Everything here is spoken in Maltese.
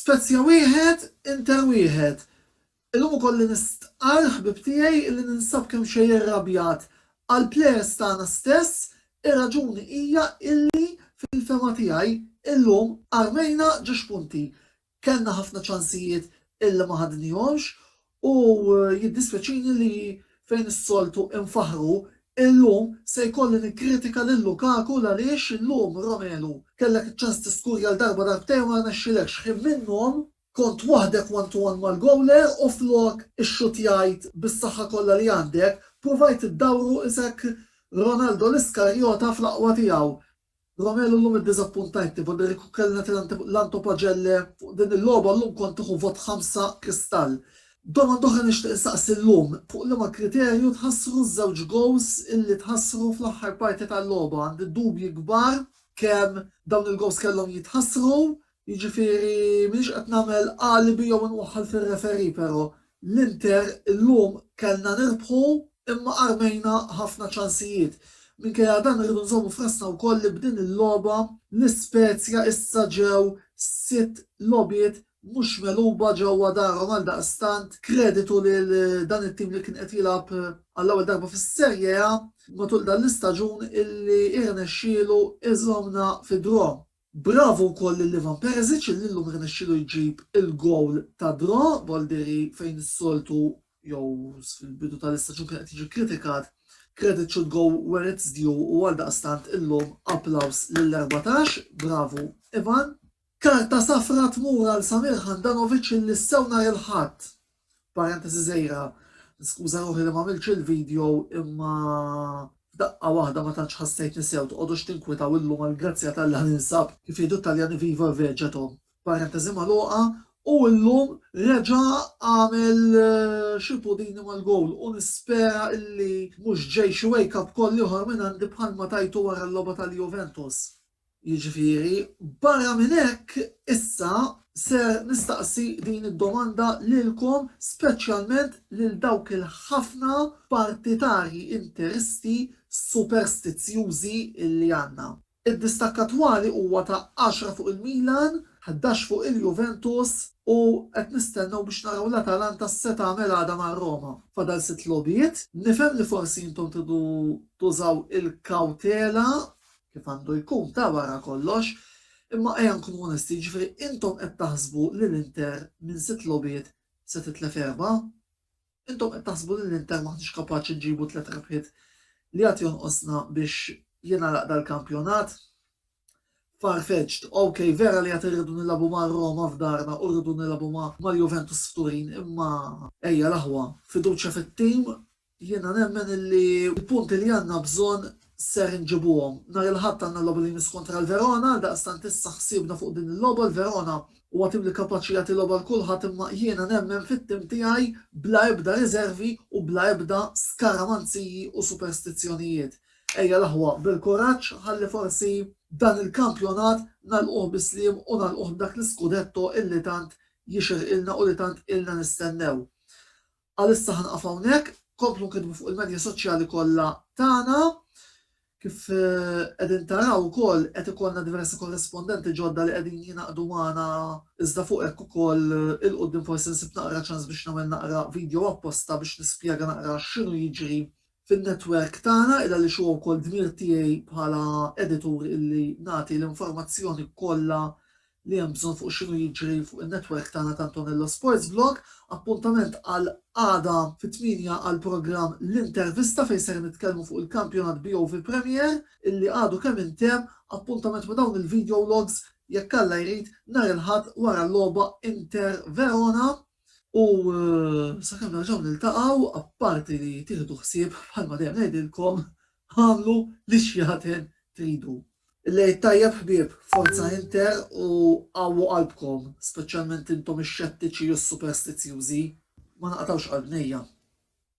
Spezia wieħed, Inter wieħed. Illum ukoll li nistqarr, ħbieb tiegħi, illi ninsab kemxejn irrabjat. Għall-plejers tagħna stess, ir-raġuni hija illi, fil-fehma tiegħi, illum armejna ġiex punti. Kellna ħafna ċansijiet illi ma ħadnihomx u jiddispjaċini li fejn is-soltu nfaħħru, illum se jkolli nikkritika lil Lukaku l-għaliex illum, Romelu, kellek iċ-ċans tiskurja l-darba darbtejn u ma rnexxilekx. Ħin minnhom kont waħdek one to one mal-gowler u flok ixxutjajt bis-saħħa kollha li għandek, pruvajt iddawru isek Ronaldo l-Iskarjota fl-aqwa tiegħu. Romelu llum iddiżappuntajtni b'għodd li kieku kellna nagħti l-Antopagelle fuq din il-logħba llum kont nieħu vot ħamsa kristall. Domanda oħra nixtieq insaqsi llum, fuq liema kriterju tħassru ż-żewġ gowls illi tħassru fl-aħħar parti tal-logħba? Għandi dubji kbar kemm dawn il-gowls kellhom jitħassru. Jiġifieri m'iniex qed nagħmel alibi jew inwaħħal fir-referee pero' l-Inter illum kellna nirbħu imma armejna ħafna ċansijiet. Minkejja dan irridu nżommu f'rasna wkoll li b'din il-logħba l-Ispezja issa ġew sitt logħbiet mhux megħluba ġewwa darhom għaldaqstant kreditu lil dan it-tim li kien qed jilgħab għall-ewwel darba fis-Serie A matul dan l-istaġun illi irnexxielu iżommna fi draw. Bravo wkoll lil Ivan Perisic illi llum irnexxielu jġib il-gowl ta' draw, gowl dirgħi fejn is-soltu jew fil-bidu tal-istaġun kien qed jiġi kkritikat, credit should go where it's due u għaldaqstant illum applaws lill-erbatax, bravo Ivan. Karta safra tmur għal Samir Handanovic illi sew nhar il-Ħadd Parentesi żgħira, niskuża ruħi li m'għamiltx il-video imma f'daqqa waħda ma tantx ħassejtni sew tqogħdux tinkwitaw illum għall-grazzja t'Alla ninsab kif jgħidu t-Taljani vivo vegeto. Parentesi magħluqa, u illum reġa' għamel xi pudini mal-gowl u nispera illi mhux ġej xi wake up call ieħor minn għandi bħalma tajtu wara l-logħba tal-Juventus. Jiġifieri, barra minn hekk, issa ser nistaqsi din id-domanda lilkom, speċjalment lil dawk il-ħafna partitarji interisti superstizzjużi li għandna. Id-distakk attwali huwa ta' għaxra fuq il-Milan, ħdax fuq il-Juventus u qed nistennew biex naraw l-Atalanta x'se tagħmel għada ma' Roma. Fadal sitt logħbiet. Nifhem li forsi intom tridu tużaw il-kawtela kif għandu jkun ta' wara kollox, imma ejja nkunu onesti, jiġifieri intom qed taħsbu li l-Inter minn sitt logħbiet se titlef erbgħa? Intom qed taħsbu li l-Inter m'aħniex kapaċi nġibu tliet rebħiet li għad jonqosna biex jingħalaq dal-kampjonat? Far-fetched, ok, vera li għad irridu nilagħbu ma' Roma f'darna u rridu nilagħbu ma' Juventus f'Turin, imma. Ejja l-aħwa, fiduċja fit-tim Jiena nemmen illi l-punti li għandna bżonn ser inġibuhom. Nhar il-Ħadd għandna l-logħba li jmiss kontra l-Verona, għaldaqstant issa ħsiebna fuq din il-logħba, l-Verona huwa tim li kapaċi jagħti logħba għal kulħadd imma jiena nemmen fit-tim tiegħi bla ebda riżervi u bla ebda skaramanziji u superstizzjonijiet. Ejja l-aħwa bil-kuraġġ ħalli forsi dan il-kampjonat nagħlquh bi sliem u nagħlquh b'dak l-iskudetto illi tant jixirqilna u li tant ilna nistennew. Għalissa ħa nieqaf hawnhekk, komplu nkiddbu fuq il-medja soċjali kollha tagħna. Kif qegħdin taraw ukoll qed ikollna diversi korrispondenti ġodda li qegħdin jingħaqdu magħna iżda fuq hekk ukoll il-quddiem forsi nsib naqra ċans biex nagħmel naqra vidjow apposta biex nispjega naqra x'inhu jiġri fin-netwerk tagħna id għaliex huwa wkoll dmir tiegħi bħala editur illi nagħti l-informazzjoni kollha li hemm bżonn fuq x'inhu jiġri fuq in-netwerk tagħna ta' Antonello Sports Blog. Appuntament għal għada fit-tmienja għall-programm L-Intervista fejn ser nitkellmu fuq il-kampjonat BOV Premier illi għadu kemm intemm, appuntament ma' dawn il-video logs jekk Alla jrid nhar il-Ħadd wara l-logħba Inter Verona. U sakemm nerġgħu niltaqgħu, apparti li tieħdu ħsieb bħalma dejjem ngħidilkom, agħmlu li x'jaħten tridu. L-Għid tajjeb ħbieb, forza Inter u qawwu qalbkom, speċjalment intom ix-xettiċi u s-superstizzjużi, ma naqtgħux qalbnejja.